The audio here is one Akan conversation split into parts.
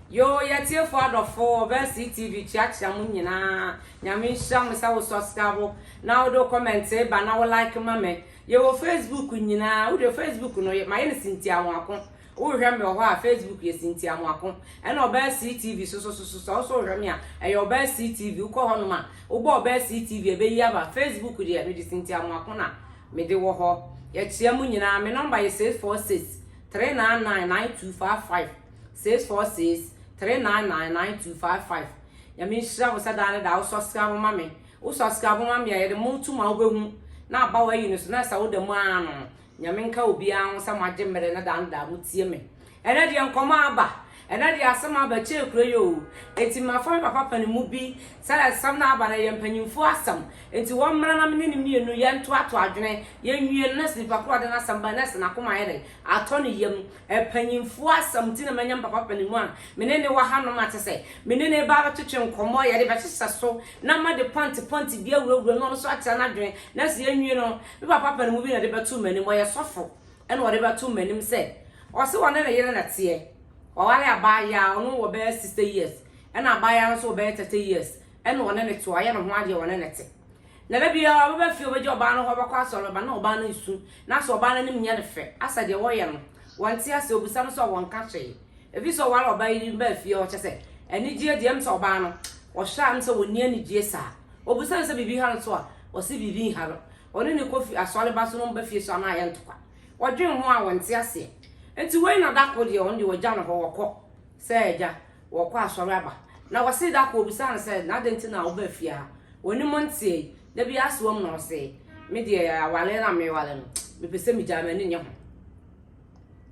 Yoo yɛ atiefo adɔfo ɔbɛn CTV kyia kyia mo nyinaa nyame nhyira mo sɛ wo sɔskrabo na wode wo kɔmɛntee ba na wo like ma me yɛ wɔ facebook nyinaa wo deɛ facebook no yɛ mayɛ no sintia mo ako wo rehwɛ me wɔ hɔ a facebook yɛ sintia mo ako ɛna ɔbɛn CTV sosososo sɛ wo so rehwɛ me a ɛyɛ ɔbɛn CTV wo kɔ hɔ nom a wo bɔ ɔbɛn CTV ɛbɛyi aba facebook deɛ me de sintia mo ako na me de wɔ hɔ yɛ kyia mo nyinaa me number yɛ 646 399 9255. six four six three nine nine nine two five five nyame nhyira wo sɛ daa ne daa wo subscribe ma me wo subscribe ma me a yɛde mo to ma wobɛhu na aba wɔ ayi no so na ɛsɛ wo da mu ara no nyame nka obiara ho sɛ mo agye mmerɛ na daa ne daa mo tie me ɛnɛ deɛ nkɔmɔ aba ɛnɛ deɛ asɛm aba kyɛɛ kuro yi o eti mafa me papa pɛne mu bi sɛ asɛm na aba no yɛ mpanyinfoɔ asɛm eti wɔn mmara na mene ne mmienu yɛn to ato adwene yɛn nwie no nɛs nipa koro ɔde n'asɛm ba nɛs n'akoma ayɛ dɛ atɔ ne yam Mpanyimfo asɛm nti na manya me papa panin mu a me ne no wɔ hanom a kyɛ sɛ me ne no reba abɛtwetwe nkɔmmɔ, yɛde bɛhyehyɛ so na made pɔnte pɔnte bi awurawura mu na ɔno nso akyerɛ n'adwene. Nanso yɛanwie no, me papa panin mu bi na ɔde bɛtoo m'anim, ɔyɛ sɔfo na ɔde bɛtoo m'anim sɛ ɔse ɔne ne yere na ɛteɛ. Waware abaayewa, ɔno wɔ bɛyɛ sixty years ɛna abaayewa no nso wɔ bɛyɛ thirty years ɛna ɔne no te, wayɛ ne ho adeɛ, ɔne no te. Na da biara ɔbɛba fie a obegye ɔbaa no hɔ abɛkɔ asɔre, ɔba na ɔbaa no resu, nanso ɔbaa no anim nyɛ no fɛ, asɛ deɛ wɔyɛ no, wɔnte ase, obisa no sɛ wɔnka hwee. Efisɛ ɔware ɔbaa yi de no baa fie hɔ, kyerɛ sɛ, anigyeɛ deɛ, ɛm sɛ ɔbaa no, ɔhwɛ a ɛm sɛ ɔnni anigyeɛ saa. Obisa no sɛ biribi ha no so a, ɔse biribi nha no. Ɔne no kɔ fi, asɔre ba so na ɔba fie so a na ayɛ ntɔkwa. Wɔdwen ho a wɔnte aseɛ. Nti wei na da koro deɛ, ɔno deɛ wɔgya no hɔ, wɔkɔ sɛ agya, wɔkɔ asɔre aba. Na wɔsee da koro bisaa no sɛ, na adɛn nti na wobaa fie ha? W'anim nteɛ yi, da bi ara soam na ɔsee, me deɛ awale na mewale no, mepɛ sɛ megyaa m'ani nyɛ ho.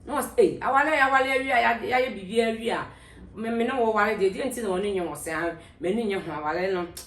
Na wɔsɛ, ei, awale a yɛawale awie a yɛayɛ biribiara awie a, me ne wo ware deɛ, deɛ nti na w'ani nyɛ ho? Ɔsɛ, m'ani nyɛ ho, awale no,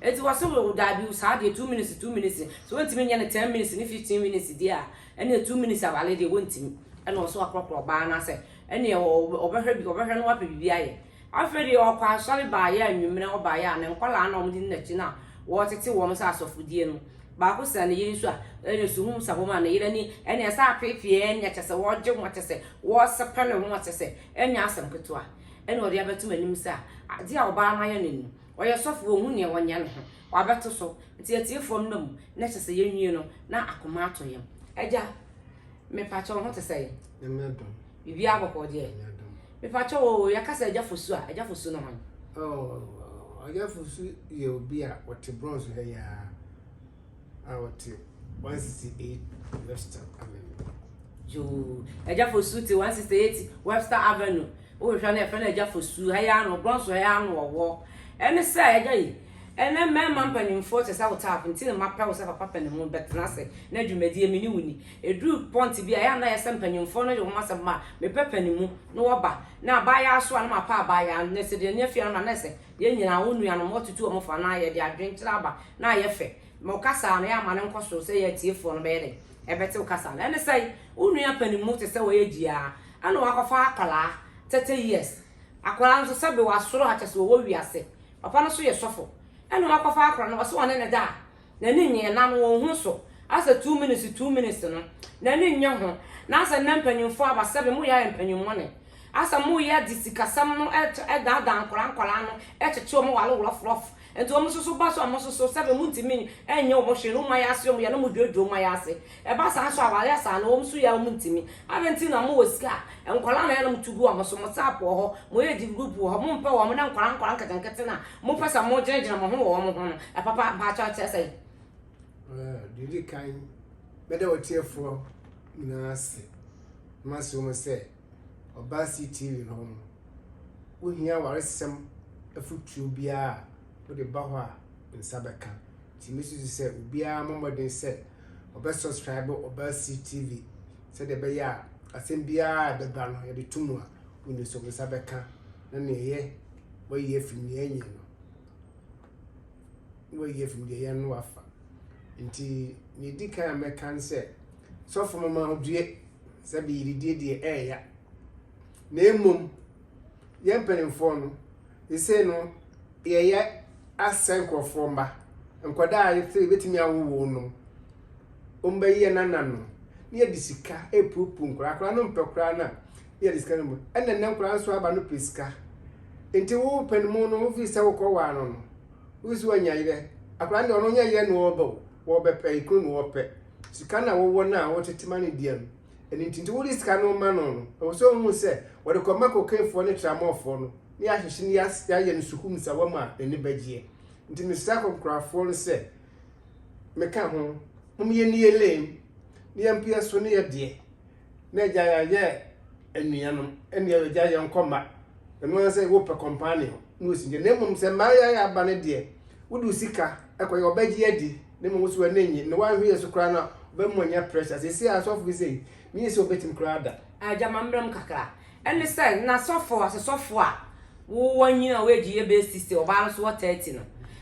Enti wɔse mo daabi o saa deɛ two minutes two minutes sɛ wɔntumi nyɛ no ten minutes ne fifteen minutes deɛ a ɛneɛ two minutes awale deɛ wɔntumi ɛna ɔse wakorɔkorɔ ɔbaa no asɛ ɛneɛ ɔbɛhwɛ bi ɔbɛhwɛ no wapɛ biribi ayɛ afei deɛ ɔkɔ asɔre baeɛ a nwummerɛ ɔbaeɛ a ne nkɔlaa na wɔde ne n'akyi no a wɔtete wɔn sɛ asɔfodie no baako sɛ ne yere nso a ɛne suhum sa wɔn a ne yere ni ɛneɛ sɛ apeepeɛ ɛneɛ kyɛ sɛ wɔgye ho kyɛ sɛ wɔsepɛ ne ho kyɛ sɛ ɛnyɛ asɛm ketewa ɛne ɔde abɛto m'anim sɛ a adeɛ a ɔbaa no ayɛ no ni Ɔyɛ sɔfo, wonhu nea ɔnyɛ no ho. Wabɛto so. Nti atie fam na mu, na kyɛ sɛ yɛnwie no na akoma atɔ yɛn. Agya, mepakyɛ wo ho te sɛn? Nyame adom. Biribiara bɔ hɔ deɛ? Nyame adom. Mepakyɛ wo oo, yɛka sɛ Agya Fosu a, Agya Fosu ne hwan? Oh, Agya Fosu yɛ obi a ɔte Bronx ha yi ara. a ɔte 168 Webster Avenue. Yoo, Agya Fosu te 168 Webster Avenue. Wohwehwɛ no yɛfrɛ no Agya Fosu, ha yi ara no, Bronx ha yi ara no ɔwɔ. Ɛne sɛ, Agya yi, ɛnnɛ mmarima mpanimfoɔ kyɛ sɛ wo type nti na mapɛ wo sɛ papa panin ho, bɛtena ase na dwumadie me ne wo nni. Ɛduru point bi a, ɛyɛ a na ayɛ sɛ mpanimfoɔ no de wɔn asɛm ma me pɛ panin mu, na wɔba. Na abaayaa so a, na mapɛ abaayaa, na sɛ deɛ nneɛma fi ara no ma na ayɛ sɛ, Yɛn nyinaa, wo nuanom, wɔatutu wɔn fo anaa yɛde adwenkyerɛ aba na ayɛ fɛ ma wo kasa a na yɛama no nkɔ soro sɛ yɛn atiefoɔ no bɛyɛ dɛn? Ɛbɛte wo kasa no. Ɛne sɛn? Wo nua panin mu te sɛ ɔyɛ gyiaa ɛna wakɔfa akwadaa, thirty years, akwadaa no nso sɛbe wasoro ha kyɛ sɛ ɔwɔ wiase, papa no nso yɛ sɔfo ɛna wakɔfa akwadaa no ɔse ɔne no da a, N'ani nnye, na no onnhu so. Asɛ two minutes two minutes no, n'ani nnye ho. Na asɛ nnɛ mpanyimfo aba sɛbe moyɛ ayɛ mpanyimɔne. Asɛ moyɛ dze sikasɛm no daadaa nkwadaa nkwadaa no, kyekye wɔn wale wrɔfrɔf. Ntsi wɔn soso ba so a mososo sɛbe monntumi nnyɛ wɔn hwee no, wɔn ayɛ ase wɔn yɛ na moduadua wɔn ayɛ ase. Ɛba saa nso a, wɔayɛ saa na wɔn so yɛ a wɔntumi. Adɛn nti na mowɔ sika a, nkwadaa na ɛyɛ na motu gu wɔn so, mo sap wɔ hɔ, mo age group wɔ hɔ, mompɛ wɔn, na nkwadaa nkwadaa nketenkete no a mopɛ sɛ mogyinagyina mo ho wɔ wɔn ho no, ɛpapa? Mpakyɛw, kyerɛ sɛn? Well, deɛ ɔdi kan, mɛda ɔtiefoɔ nyinaa ase na maso mu sɛ ɔbaa CTV hɔ no, wohia waresɛm afotuo biara a wode ba hɔ a nsa bɛka. Nti mesusu sɛ obiara mmɔ mmɔden sɛ ɔbɛ subscribe ɔbaa see TV sɛdeɛ ɛbɛyɛ a asɛm biara a ɛbɛba no yɛde to mu a wonim sɛ wɔn nsa bɛka na nea ɛyɛ wɔayi afiri nea ɛnyɛ no na wɔayi afiri deɛ ɛyɛ no wafa nti nea ɛdi kan a mɛka ne sɛ sɔfo mama ho due sɛ beyididie deɛ ɛɛya na mmom yɛn mpanimfoɔ no, sesei no yɛyɛ asɛ nkorɔfoɔ mma, nkwadaa a sɛ yɛbɛtumi awo wɔn no, wɔn bɛyɛ yɛn nananom, na yɛde sika repupu nkwadaa, akwadaa no mpɛ koraa na yɛde sika no mu, ɛna nnɛ nkwadaa nso aba no pɛ sika, nti wo panimu no wofi sɛ wokɔ waa no no, wosi wanya yerɛ, akwadaa no deɛ ɔno nyɛ yerɛ na ɔreba o, wɔbɛpɛ, kunu na ɔrepɛ, sika na wɔwɔ no a wɔtete ma no deɛ no. ɛno nti nti wode sika no ma no no ɛwɔ sɛ ɔhu sɛ wɔde kɔma kokeefoɔ ne tramɔfoɔ no ne yɛahyehyɛ ne yɛayɛ no sukuu nsawa mu a n'ani bɛgyeɛ nti mesrɛ kɔnkorafoɔ no sɛ meka ho mom yɛ ne yɛ lame ne yɛ mpeɛ so ne yɛ deɛ na agya yɛayɛ anuanom ɛne yɛ agya yɛ nkɔ mma ɛno ara sɛ wopɛ kɔmpaane ho na ɔsi deɛ na mmom sɛ mmaa yɛ ayɛ aba no deɛ wode sika ɛkɔ yɛ ɔbɛgye adi Na mmom wo so w'ani nnye, na woanhwɛ yɛn so koraa na wobɛma wɔanya pressure. Seesei ara sɔfo bi sei, minnye sɛ wobetumi koraa da. Agya, ma mmerɛ mu kakra. Ɛne sɛ, na sɔfo, asesɔfo a wowɔ nyini a woadi yɛ bɛyɛ sixty, ɔbaa no so wɔ thirty no,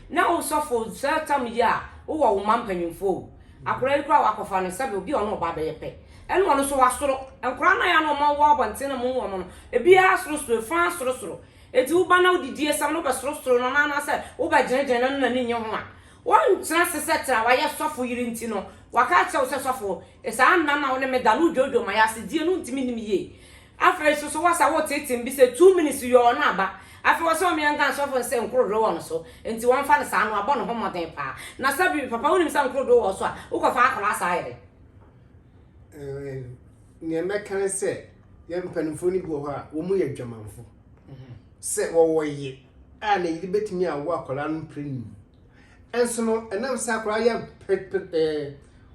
na wo sɔfo, saa tam yi a wowɔ wo mma mpanyimfoɔ o, akwadaa yi koraa a woakɔfa no, sɛbe obi a ɔne wo ba bɛyɛ pɛ, ɛne ɔno nso wasoro. Nkwadaa no a yɛ a na wɔma wɔwɔ abɔnten na mohu wɔn no, ebiara sorosoro, efa sorosoro. Enti wo ba no a wodidi asiam no, wobɛsorosoro no anaa anaasɛ wobɛgyinagyina no na n'ani nnye ho a, Woantena ase sɛ tra, wayɛ sɔfo yere nti no, waka akyerɛ wo sɛ sɔfo, saa nna no a wo ne me da no wodwoodwoo ma yɛase, deɛ no wontumi nnim yie. Afei nso so woasa woreteetee me bi sɛ two minutes yɔɔ no aba, afei ɔse ɔmea nka sɔfo no sɛ nkorodoo wɔ no so, nti wɔmfa no saa no wabɔ ne ho mmɔden paa. Na sɛbi, papa wonim sɛ nkorodoo wɔ wo so a, wokɔfa akwadaa saa yɛdɛn? Nea mɛka ne sɛ yɛn mpanimfoɔ no bi wɔ hɔ a wɔyɛ adwamanfo. sɛ wɔwɔ ye a na yere betumi awo akwadaa no mprenu. Nso no, ɛnam sɛ akwadaa yɛ ɛɛ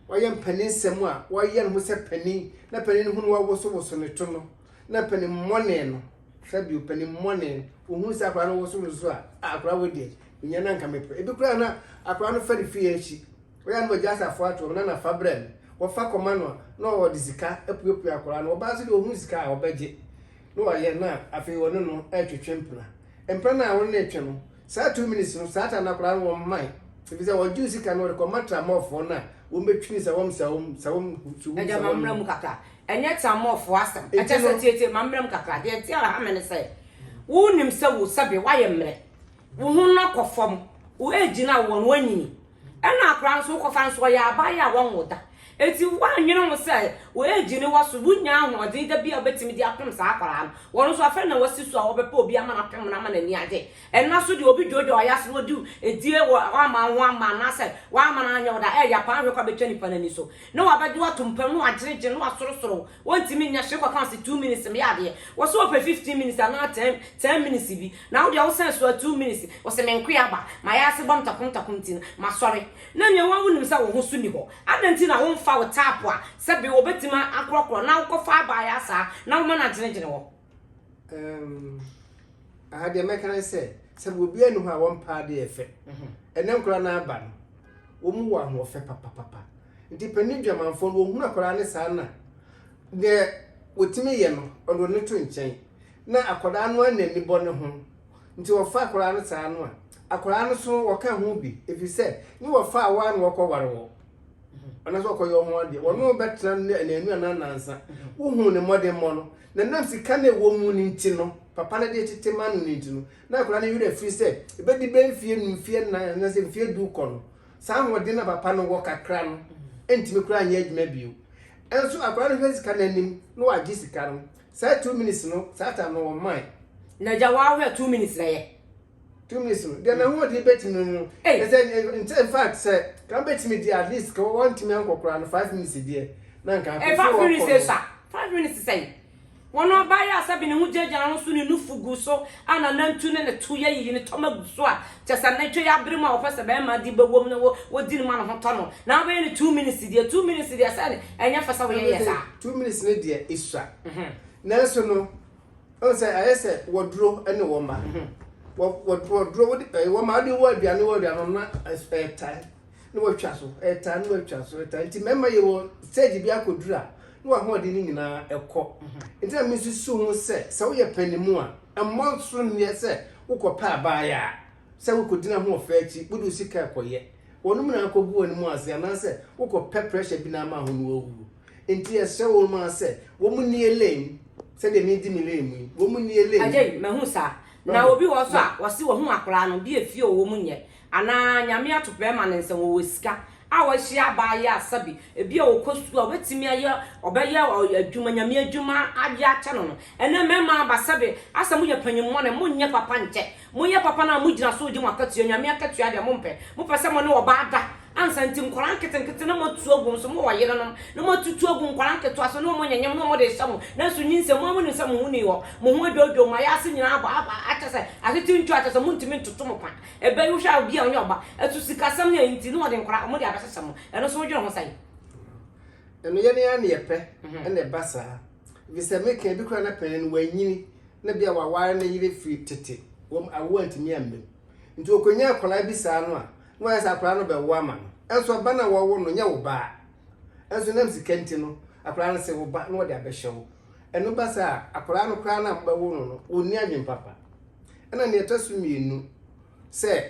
wɔyɛ mpanin nsɛm a wɔyɛ no ho sɛ panin na panin no ho no wawosowoso ne to no na panin mmɔne no hwɛ bio panin mmɔne ohun sɛ akwadaa no wosowoso a akwadaa wɔ deɛ nyɛ na nka mepɛ ebi koraa na akwadaa no fɛre fie akyi wɔyɛ no wɔgya asafo ato na nafa brɛ no wɔfa kɔma no na wɔde sika apuapua akwadaa no wɔbaa so deɛ ohun sika a wɔbɛgye. na wayɛ na afei wɔne no retwetwe mpena. Mpena no a wɔne no retwe no, saa two minutes no saa time no akwadaa no wɔmmae efisɛ wɔgye wo sika no wɔde kɔma tramɔfoɔ no a wɔbɛtwini sawam sawam sawam suhum Agya ma sawam mmra no. mu kakra. Ɛnyɛ tramɔfoɔ asɛm. Nti Ɛkyɛ sɛ no- tie tie ma mmra mu kakra. Deɛ ɛte a ɛha me ne sɛ wonim sɛ wo sɛbe woayɛ mmerɛ. Wo ho no akɔ fam. Wo age no a wowɔ no woanyini. Ɛna akwadaa nso wokɔfa nso ɔyɛ abaayɛ a wɔnwo da. Enti woannwene ho sɛ w'age ne wɔ so, wonnya ahoɔden da bi a wobɛtumi de apem saa akwadaa no. Wɔn nso afei na wɔasi so a wɔbɛpɛ obi ama no apem no ama n'ani agye. Ɛnna nso deɛ obi dwoodwoo ayɛ ase na ɔde edie wɔ wamma wo ho amma anaasɛ wamma no anyɛ wo da, ɛyɛ ya paa hwɛ kɔ a bɛtwa nipa no ani so. Na wabɛgye wo atom pam na wagyinegyene na wasorosoro wo. Wontumi nyɛ hwee kɔka wo sɛ two minutes meyɛ adeɛ. Wɔ sɛ wopɛ fifteen minutes anaa ten ten minutes bi. Na wo deɛ wo sɛn soa two minutes wo se me nkoa aba mayɛ ase bɔ no takum takum nti no masɔre na nea wo a wo nim sɛ wo ho so ni hɔ adɛn nti na wo nfa wo tap a sɛ be wo bɛtumi akorɔ korɔ na wo kɔ fa aba ayɛ asaa na wo ma no agyene gyene hɔ. Umm aha deɛ mɛka ne sɛ sɛ be obiara ni hɔ a wɔn paa adeɛ yɛ fɛ ɛnɛ nkora no aba no wɔn mu wɔ ahoɔfɛ papapapa nti panin dwamanfoɔ no wɔhunu akora ne saa na deɛ wɔtumi yɛ no ɔde wɔn to nkyɛn. na akwadaa no anna ani bɔ ne ho nti wɔfa akwadaa no saa no a, akwadaa no so wɔka ho bi ɛfiri sɛ ne wɔfa awa na wɔkɔware wɔ anaasɛ wɔkɔyɛ wɔn adeɛ wɔn no bɛtena no anaanu anaa nansa wohu ne mmɔdemmɔ no na nam sika no ɛwɔ mu no nti no papa no de tete ma no no nti no na akwadaa no werɛ firi sɛ ɛbɛdi bɛ mfie nu mfie nnan anaasɛ mfie du kɔ no saa ahoɔden na papa no wɔ kakra no ɛntumi koraa nyɛ adwuma bio ɛnso akwadaa no hwɛ sika no anim na wagye sika no Saa two minutes no, saa time no ɔmmae. Na agya wo ahwɛ two minutes na yɛ. Two minutes no, deɛ n'ahoɔden bɛtumi no, na sɛ nkyɛ in fact sɛ ka bɛtumi deɛ at least ka wɔntumi ankɔ koraa no five minutes deɛ na nka afei so wɔkɔ no. Five minutes sa, five minutes sɛn? Wɔn ɔbaa yi a sɛbi ne ho gyagyaa ho so ne nufu gu so a nanantu ne ne to yɛ yiyi ne tɔma gu so a Kyɛ sɛ na twɛ abere mu a wɔpɛ sɛ barima de bɛwɔ mu na wɔdi no ma ne ho tɔ no, na wobɛyɛ no two minutes deɛ, two minutes deɛ sɛ ɛnyɛ fɛ sɛ woyɛ yɛ saa. Two minutes no deɛ esua. Nanso no, wohu sɛ ayɛ sɛ wɔduro ne wɔn ma. Wɔduro, wode wɔn ma, wode wɔ aduane wɔ aduane no na ɛtae na wɔatwa so, ɛtae na wɔatwa so, ɛtae. Nti mmarima yɛ wɔ stage bi akɔduru a, na wɔahoɔden no nyinaa ɛkɔ. Nti na mesusu ho sɛ, sɛ woyɛ panimu a, mmɔ nsoronneɛ sɛ Wokɔpɛ a baayɛ a, sɛ wokɔdi n'ahoɔfɛ akyi, wode wo sika rekɔyɛ. Wɔnom na akɔgu w'anom ase anaasɛ wokɔpɛ pressure bi na ama ho na woawu. Enti yɛsrɛ wɔnom ara sɛ wɔn nni Elaine sɛdeɛ medi me lane mu yi. Wɔn nni Elaine. Agyei, mahu saa. Na obi wɔ hɔ nso a, wɔse wɔhu akwadaa no, deɛ fie ɔwɔ mu nyɛ Anaa Nyame ato bɛɛma no nsa mu, ɔwɔ sika, a wahyia abaayewa a sɛbi, ebia ɔkɔ sukuu a ɔbɛtumi ayɛ, ɔbɛyɛ adwuma, Nyame adwuma de akyɛ no no. Ɛnnɛ mɛɛma aba sɛbi, asɛ moyɛ panyinmɔne, monyɛ papa nkyɛ. Moyɛ papa no a mogyina so regye mo akatua, Nyame akatua deɛ mompɛ. Mopɛ sɛ mone ɔbaa da ansa nti nkwadaa nketenkete na moatu agu wɔn so, mowɔ yerenom na moatutu agu nkwadaa nketewa so na wɔn nyanyam na wɔn de rehyɛ mo, nanso nyinsɛn mu a monim sɛ mo ho nni hɔ, mo ho adwodwo, mo ayase nyinaa abɔ, akyɛsɛ, atete ntwa, kyɛsɛ montumi ntoto mo pa. Ebɛn wohwɛ a obi a ɔnnyɛ ɔba so sikasɛm na ntsi na wɔdze nkwadaa hɔn dze abɛhyehyɛ mo ɛno so wodwen ho sɛn? Ɛno yɛn ara na yɛpɛ na ɛba saa efisɛ me kan bi koraa na panyin no wanyini na bia waware ne yere firi tete wɔn awoɔ antumi ammam nti ɔkɔnya akwadaa bi saa no a na wayɛ sɛ akwadaa no bɛwo ama no ɛnso ɔba no a wɔwo no nyɛ wo baa ɛnso nam sika nti no akwadaa no se wo ba na wɔde abɛhyɛ wo Ɛno ba saa a, akwadaa no koraa no a mobɛwo no no, ɔnni adwene papa. Ɛna nea ɛtɔ so mmienu sɛ,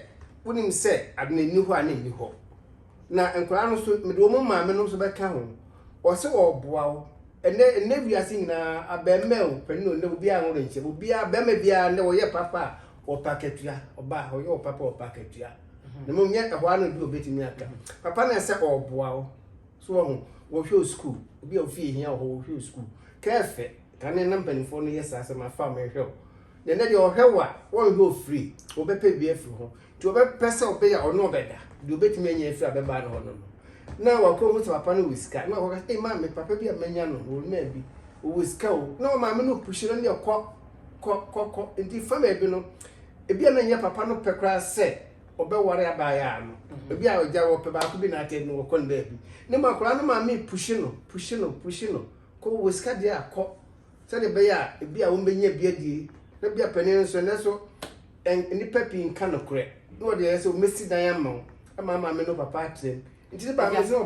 wonim sɛ adwene nni hɔ a na ɛnni hɔ. Na nkwadaa no nso, mede wɔn maame no nso bɛka ho. Wɔsɛ wɔreboa wo. Ɛnɛ, ɛnɛ wiase nyinaa, abarimaa o, panin o, nnɛ obiara nwo renkyɛ. Obiara, barima biara nnɛ ɔyɛ papa a, ɔpa akatua. Ɔbaa, ɔyɛ ɔpapa a, ɔpa akatua. Na mmom nyɛ ɛhɔ ara na obi a ɔbɛtumi aka. Papa no ɛsɛ ɔreboa wo. so wɔ ho wɔhwɛ wɔ sukuu obi a ofie hia wɔ hɔ wɔhwɛ wɔ sukuu kɛɛfɛ kane na mpanimfoɔ no yɛ saa sɛ ma fa me hwɛ wo na ɛnɛ deɛ ɔhwɛ wo a wɔnhwɛ wɔ firi wɔbɛpɛ bi afiri ho nti wɔbɛpɛ sɛ ɔbɛyɛ ɔne ɔbɛda deɛ ɔbɛtumi anya afiri a bɛbaa no hɔ no no na wakɔ hu sɛ papa no wɔ sika na ɔkɔka sɛ maa me papa bi a manya no wɔ maa bi ɔwɔ sika o na ɔmaa me no puhyɛ no deɛ kɔ kɔ kɔ kɔ nti fa baabi no ebi a na nyɛ papa no pɛ koraa sɛ Ɔbɛware abaayaa no. Ebi a agya wɔpɛ baako bi na atɛn no wɔkɔ no baabi. Ne mu akwadaa no maame puhyi no, puhyi no, puhyi no. Kɔ wɔ sika deɛ a kɔ. Sɛdeɛ ɛbɛyɛ a ebi a wɔbɛnya bi adie. Na bi a panin nso ɛnɛ so nnipa pii nka nokorɛ. Na wɔde ayɛ sɛ wɔbɛsi dan ama wo. Ɛma maame ne papa atrɛm. Agya,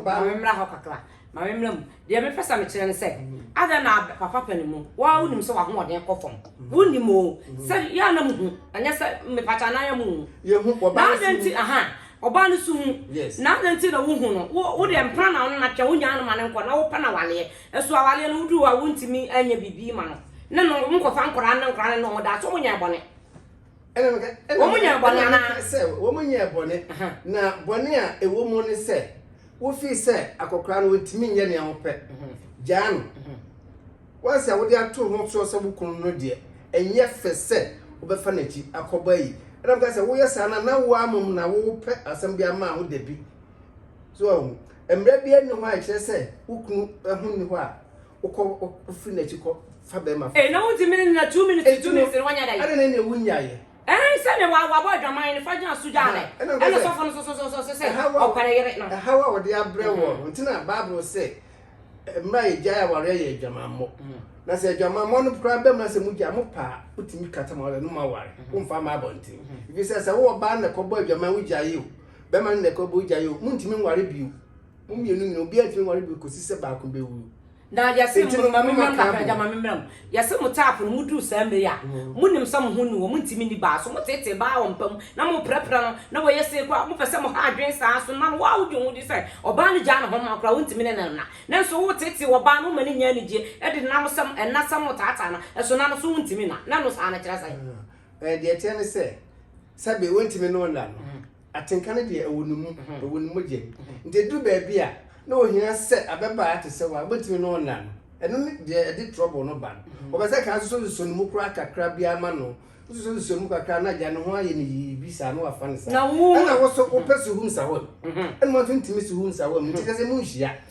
ma memmra hɔ kakra. Ma memmra mu. Deɛ mepɛ sɛ mekyerɛ ne sɛ, adɛn na papa panin mu, wo ara wonim sɛ w'ahoɔden kɔ fam. Wonim o, sɛ yɛ a na mohu, ɛnyɛ sɛ mepa kyɛ anaa yɛ mohu. Na adɛn nti, aha, ɔbaa no so hu. Na adɛn nti na wohu no? Wo, wo deɛ mpena na wo ne no atwɛn, wonyaa no ma no nkɔ, na wopɛ no awaleɛ. Ɛso awaleɛ no, woduru hɔ a wontumi nyɛ biribi ma no. Ne no, monkɔfa nkwadaa ne nkwadaa ne ne ho da, so monyɛɛ bɔne? Ɛna meka, ɛna Wɔn nyɛɛ bɔne ɛna anaa? meka sɛ wɔn nyɛɛ bɔne, Aha. na bɔne a ɛwɔ mu ne sɛ wofii sɛ akɔkora no wɔntumi nyɛ nea wɔpɛ, gyaa no. Wɔn sɛ wode ato ho soɔ sɛ wo kunu no deɛ, ɛnyɛ fɛ sɛ wobɛfa n'akyi akɔbɔ ayi. Ɛna meka sɛ woyɛ saa no a, na woa mmom na worepɛ asɛm bi ama ho dabi. So ahu, mmara biara nni hɔ a ɛkyerɛ sɛ wo kunu ho nni hɔ a wokɔ wofiri n'akyi kɔ fa bɛrima fo. ee na wonti mi na two minutes two minutes na wanya da yi. ɛna na nea wonya yɛ. ɛn sɛ ne wa wabɔ adwaman ne fa gyina so gyaa ne ɛna sɔfo no sosososo sɛ ɔpɛrɛ yere no. ɛhaw a wɔde abrɛ mhm. wɔn nti na baabolo sɛ mmerɛ yɛ gyae awareɛ yɛ adwamammɔ mhm. na sɛ adwamammɔ no koraa bɛm na sɛ mu gya mo paa wotumi kata ma ɔlɛ no ma ware mhm. womfa ma abɔnten ɛfiri sɛ sɛ wowɔ baa na ɛkɔbɔ adwaman wogyae o bɛma no na ɛkɔbɔ wogyae o montumi nware bio Mo mmienu nyinaa, obiara ntumi nware bio kɔsi sɛ baako bɛwu. Na yɛse Enti no, ma me mmra kakra agya, ma me mmra mu. Yɛse mo tap no, moduru saa mmerɛ yi a, monim sɛ mo ho nni hɔ, montumi nni baa so, moteetee baa wɔ mpa mu, na moprɛprɛ no, na wayɛ sei koraa, mopɛ sɛ moha adwene saa so, na wo a wodwen ho di sɛ ɔbaa no gyaa ne ho ma koraa, wontumi ne no nna. Nanso woteetee ɔbaa no, woma no nya anigyeɛ, de denam sɛ ɛnna sɛ motaataa no, ɛso nna no so wontumi nna, na ɛno saa no kyerɛ sɛn? Ɛɛ, deɛ ɛteɛ ne sɛ, sɛbe wontumi ne wo nna no. Atenka no deɛ ɛwɔ ne mu, ɛwɔ ne mogya mu. Nti ɛduru baabi a, na ɔhia sɛ ababaa te sɛ wo a wobɛtumi ne ɔnna no. Ɛno ne deɛ ɛde trouble no ba no. Wɔpɛ sɛ ka nsosɔnsosɔ ne mu koraa kakra biara ma no. Wososɔnsosɔ ne mu kakra a, na agya ne ho ayɛ no yii bi saa, na wafa no saa. Ɛna wo nso wopɛ Suhum Sahum. Ɛna ɔno nso ntumi Suhum Sahum, nti kyerɛ sɛ monhyia.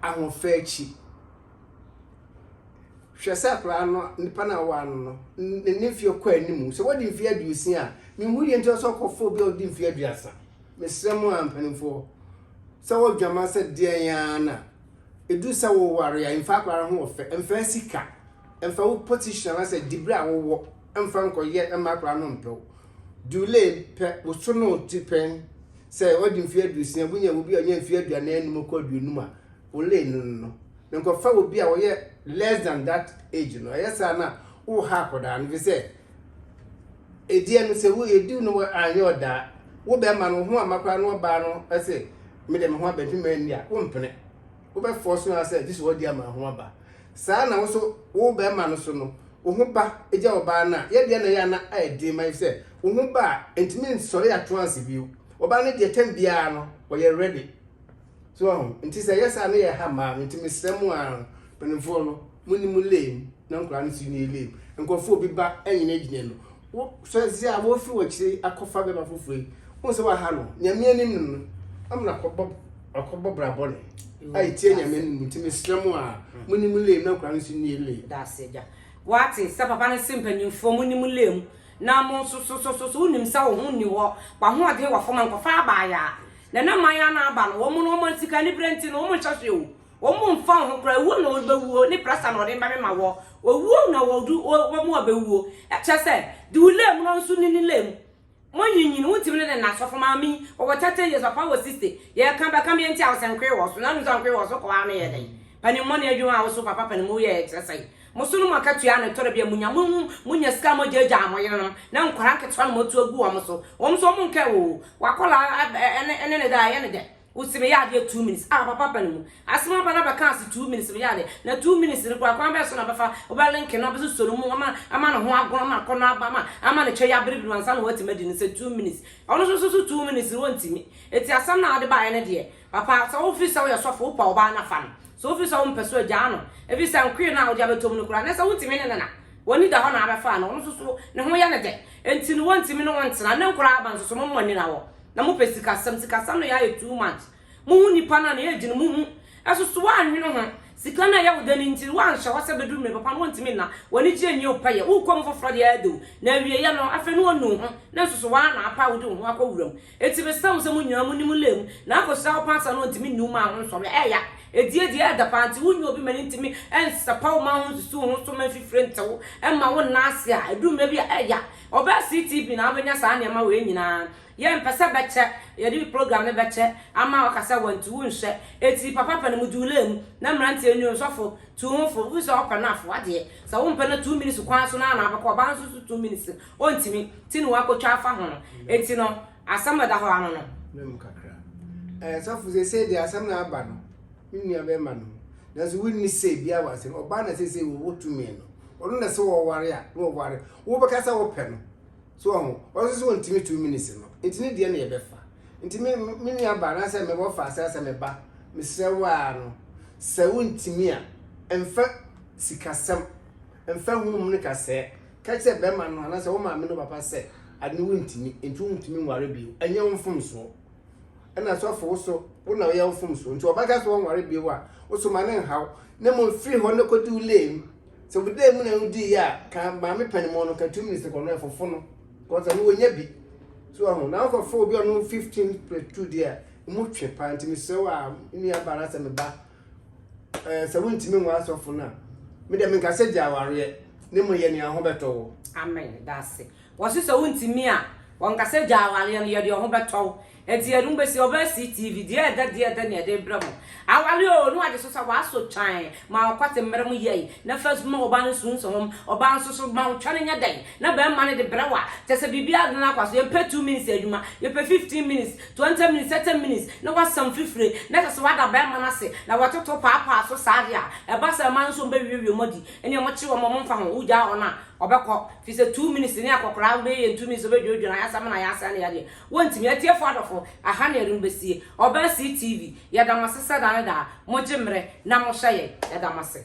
ahoɔfɛ akyi. Hwɛ sɛ akwadaa no, nipa no a wɔwɔ ano no, ne ne mfeɛ kɔ anim. Sɛ wadi mfeɛ aduosia a, mehu deɛ nti ɔsɛ ɔkɔfo obi a ɔdi mfeɛ aduasa. Mesrɛ mo a mpanimfoɔ, sɛ wɔdwama sɛ deɛn ara na ɛdu sɛ woware a, mfa akwadaa no ho ɔfɛ, mfa sika. mfa wo position anasɛ dibere a wowɔ mfa nkɔyɛ mma akwadaa no mpɛ wo dule pɛ woso no ti pɛn sɛ ɔde mfeɛ aduosia wonya obi a ɔnyɛ mfeɛ aduanan anum kɔ aduonum a wole no no no nkɔfa obi a ɔyɛ less than that age no ɛyɛ saa na wo ha akwadaa no fi sɛ ɛdeɛ no sɛ wo ɛdiw no anyɛ ɔdaa wo bɛrima no ho amakora no ɔbaa no ɛsɛ mede me ho abɛntwema nni a wompene wobɛfɔɔ so ara sɛ gye sɛ ɔde ama ho aba. Saa na wo nso wo barima no so no, wo ho ba gya ɔbaa no a, yɛ deɛ na ɛyɛ a na ayɛ den ma efisɛ wo ho ba a, ɛntumi nsɔre atoanse bio. Ɔbaa no deɛ tɛm biara no, ɔyɛ ready. So wahu? Nti sɛ ɛyɛ saa na ɛyɛ ha mmaa no, nti mesrɛ mo ara no, mpanimfoɔ no, monni mo lane na nkwadaa no nso nni lane. Nkurɔfoɔ obi ba ɛnyinagyina no, Wo sɔe dze a woefi w'ekyir yi akɔfa bɛma fofor yi, wohu sɛ wɔaha no Nyame enyim no no, ama no akɔbɔ akɔbɔ bra bɔn a etsia Nyame no mu. Ntsi meserɛ mo a, munyi mo lay mu na nkɔla no so nyie lay. Dase, Agya. Wɔatse sɛ papa no se mpanyimfoɔ, munyi mo lay mu na mo so so so so so wonim sɛ wo ho nni hɔ, w'ahoɔdzen wɔ fam a, nkɔfa aba ayɛ a. Nana mma yɛ a na aba no, wɔn no wɔn sika aniberɛ nti no wɔn nhyɛ hwee o. Wɔn mfa wɔn ho koraa, owuo na wɔbɛwuo, ne prasa na wɔde bɛmema wɔ, owuo na wɔdu, wɔ, wɔn a bɛwuo. Kyerɛ sɛ, de wo lɛ mu na ɔnso ne ne lɛ mu. Monyinyin, wontumi ne ne nna. Sɔfo Maame, wɔwɔ thirty years, papa wɔ sixty. Yɛka, bɛka me nti a, ɔsɛ nkoe wɔ so. Na wonim sɛ nkoe wɔ so kɔ ara no yɛ dɛn? Panimmɔne adwuma a woso papa panimu yɛ yɛ kyerɛ sɛn? Mo so no mo akatua na ɛtɔ da bi a munya, mo, monya sika a mogyaagyaa mo yerenom, na nkwadaa nketewa na moatu agu wɔn so. Wɔn nso wɔnka ɛwɔ o, w'akwadaa a, ɛne, ɛne ne dɛ a, ɛyɛ ne dɛ. Wo se me yɛ adeɛ two minutes ah papa pɛ no mu asem aba na bɛka ase two minutes me yɛ adeɛ na two minutes no koraa kwan bɛɛ so na bɛfa wo bɛ link no abɛso so no mu ama ama ne ho agono ama akɔnɔ aba ama ama ne kyɛ yɛ abiribiri ansa na watumi adi no sɛ two minutes ɔno nso so so two minutes no wɔntumi eti asɛm na ade baeɛ no deɛ papa sɛ wo fi sɛ woyɛ sɔfo wo pɛ ɔbaa na fa no sɛ wo fi sɛ wo mpɛ so agyaa no efi sɛ nkoe no a wode abɛtɔ mu no koraa na sɛ wontumi ne ne na wani da hɔ na abɛfa no ɔno nso so ne ho yɛ ne dɛ enti no wɔntumi ne wɔntena ne nkoraa aba nso so mo mmɔ ani na wɔ Na mo pɛ sikasɛm sikasɛm no yɛ ayɛ too much mo hu nipa no a na yɛ gyina mo hu ɛso so wa nwene ho sika no a ɛyɛ wo dɛ no ntiri wa nhyɛ hɔ sɛ bɛduru mmerɛ papa no wo ntumi nna wɔ ani gyeɛ nwie wo pɛ yɛ wo kɔ mu foforɔ deɛ ɛyɛ dɛ o na awie yɛ no afei no ɔnu wo ho na nso so wa na apa a wo de wo ho akɔ wura mu ɛti me srɛ mo sɛ mo nyinaa mo ni mo lɛ mu na akɔ sira wo paa saa no ɔntumi nni wo maa ho nsɔre ɛyɛ ya ɛdie deɛ ɛyɛ dɛ paa nti wo nyɛ obi ma no ntumi ɛnsɛ pa wo maa ho nsusu wo ho so ma mfifire nte wo ɛma wo nna ase a ɛduru mmerɛ bi a ɛyɛ ya Ɔbɛ CTV na wobɛnya saa nneɛma wei nyinaa. Yɛ mpɛ sɛ bɛkyɛ, yɛde program no bɛkyɛ ama ɔka sɛ wantu wo nhwɛ. Eti papa pɛ no mo duulɛɛ mu na mmeranteɛ nnuo nsɔfo tu ho fo. Wofi sɛ ɔpɛ no afo adeɛ. Sɛ wo mpɛ no a two minutes kwan so no ara na abɛkɔ. Ɔbaa no nso so two minutes no ɔntumi ti ne wakɔtwa afa ho no. Eti no asɛm a ɛda hɔ ara no no. Mmerɛ mu kakra. Ɛɛ sɔfo seesei deɛ asɛm na aba no, me nua bɛɛma no ho. Nanso wonni say biara wɔ asɛm. Ɔbaa na seesei wo wo tumi no. ɔno na sɛ wɔware a na wɔware wobɛka sɛ wopɛ no so ɔho ɔno nso sɛ ɔntumi two minutes no nti ne deɛ na yɛbɛfa nti me me nua ba anaasɛ me wɔfa asɛ asɛ me ba mesrɛ wo a no sɛ wontumi a mfa sikasɛm mfa hum no kasɛɛ ka kyerɛ bɛrima no anaasɛ wo maame no papa sɛ ade no wontumi nti wontumi nware bio ɛnyɛ wo mfomsoɔ ɛna sɔfo wo so wo na woyɛ wo fom so nti ɔbɛka sɛ wɔnware bio a wo so ma ne nhaw na mmom firi hɔ no kɔdi wo lee mu sɛ wo dee mu na wodi yɛ a ka maame panimu no ka two minutes kɔ no ɛfofo no kɔsɛ no wɔnya bi so ɔho na wokɔfo obi ɔno 15 plus 2 deɛ a mu twe paa nti mesrɛ wo a nnuabara sɛ meba Eh, sɛ wontumi nwa asɔfo no a, me deɛ menka sɛ gya awareɛ, ne mu yɛ nea ho bɛtɔ wo. Amen, daase. Wɔse sɛ wontumi a, wɔnka sɛ gya awareɛ no, yɛ deɛ ho bɛtɔ wo. Enti yɛde mo bɛsi, ɔbaa si TV, deɛ ɛdɛ deɛ ɛdɛ na yɛde brɛ mo. Aware oo, ne wagye so sɛ w'asɔ twan ma ɔkwate mmerɛ mo yɛi, na first ma ɔbaa no suunso hom, ɔbaa nso so ma wo twɛn nyɛ dɛn, na bɛɛma no de brɛ wo a, kyɛsɛ biribiara de no akɔ so, yɛmpɛ two minutes adwuma, yɛpɛ fifteen minutes, Twenty minutes, thirty minutes, na wasam fifire, na kyerɛ sɛ wada barima no ase, na watoto paapaa so saa de a, ɛba saa mmaa no nso wɔbɛwiawie wɔn adi. Ɛnneɛ wɔkyere wɔn, wɔmfa ho, wogyaa wɔn a, wɔbɛkɔ. Ɛfiri sɛ two minutes ne akɔkoraa wobɛyɛ yɛn two minutes a wobɛdwodwo no ayɛ asɛm na yɛasɛe no yadeɛ. Wɔntumi. Atiefoɔ adɔfo, ɛha na yɛde mo bɛsie. Ɔbaa Sea TV, yɛda mo ase sɛ daa ne daa mogye mmerɛ na mohwɛ yɛn. Yɛda mo ase.